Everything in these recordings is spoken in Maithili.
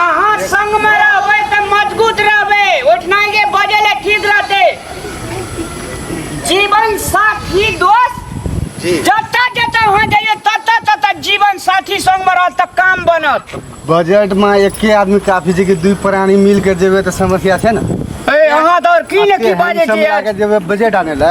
अहाँ संग में रहबे त मजबूत रहबे उठना के बजे ले ठीक रहते जीवन साथी दोस्त जी जता जता वहाँ जाइए तता तता जीवन साथी संग में रहत त काम बनत बजट में एके आदमी काफी छै कि दुई प्राणी मिल के जेबे तऽ समस्या छै ने ए अहाँ तो और की ने की बाजे हम छी लगा के जेबे बजट आने ला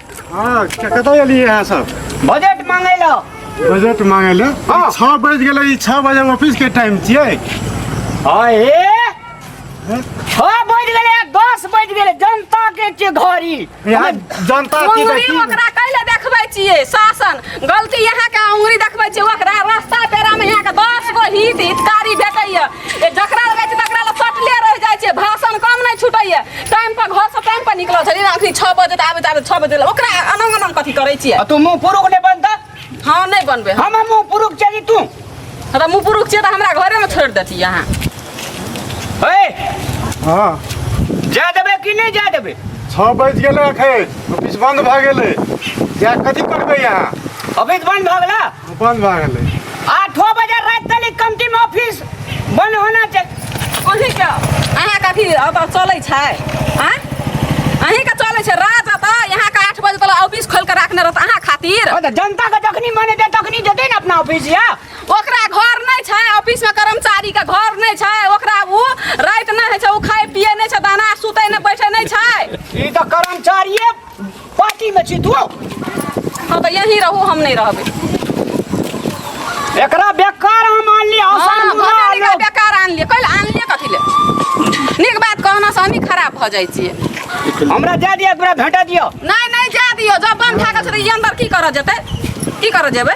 हाँ कतऽ एलियै अहाँ सब बजट मांगे लो बजट मांगे लो हाँ। छः बज गेलै ई छः बजे ऑफिस के टाइम छियै अरे छः बज गेलै आ दस बज गेलै जनता के के घड़ी यहाँ जनता की उंगली देखी ओकरा कैले देखबै छियै शासन गलती यहाँ के उंगली देखबै छियै ओकरा रास्ता पेरा में यहाँ के दस गो हित हितकारी भेटैया ए, जकरा लगै छै तकरा लग सटले रह जाइ छै भाषण कम नहि छुटैए टाइम पर घर से टाइम पर निकलल छै जेना अखनी छओ बजे तऽ आबैत आबैत छओ बजे लग। ओकरा अनंग अनंग कथी करै छियै आ तू मुंह पुरुख ने बन त हँ नहि बनबै हम हम मुंह पुरुख चली तू तऽ मुँह पुरुख छियै तऽ हमरा घरेमे छोड़ि देती अहाँ ए हाँ जा देबे कि नहीं जा देबे छः बज गए अखन ऑफिस बंद भए गेलै जा कथी करबै अहाँ अभी बंद भगला बंद भए गेलै आठो बजे राति तक ई कमती में ऑफिस बंद होना चाहिए अहीं के अहाँ के अथी अब चलै छै आँय अहीं के चलै छै राज तऽ यहाँ के आठ बजे तक ऑफिस खोल के राखने रहत अहाँ खातिर और तो जनता का जखनी मने दे तखनी देते ना अपना ऑफिस या ओकरा घर नहि छै ऑफिस में कर्मचारी के घर नहि छै ओकरा उ राति नहि होइ छै उ खाए पिए नहि छै दाना सुते नहि बैठे नहि छै ई तो कर्मचारिये पार्टी में छी तू हाँ तो यहीं रहो हम नहीं रहबे एकरा बेकार हम आनली हाँ, हसन बुला भगवान एकरा लोग बेकार आनलिए कल आनलिए कथी ले नीक बात कहना से हमही खराब भऽ जाइ छियै हमरा दे दिया एकरा भेटा दियो नहीं नहीं जा दियो जब बन खा के छोड़ ई अंदर की करऽ जेतै की करऽ जेबै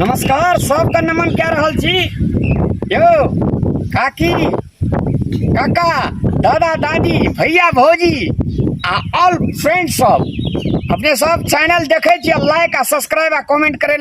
नमस्कार सबके नमन कए रहल छी यौ काकी काका दादा दादी भैया भौजी आ ऑल फ्रेंड सब अपने सब चैनल देखै छी लाइक आ सब्सक्राइब आ कमेंट करै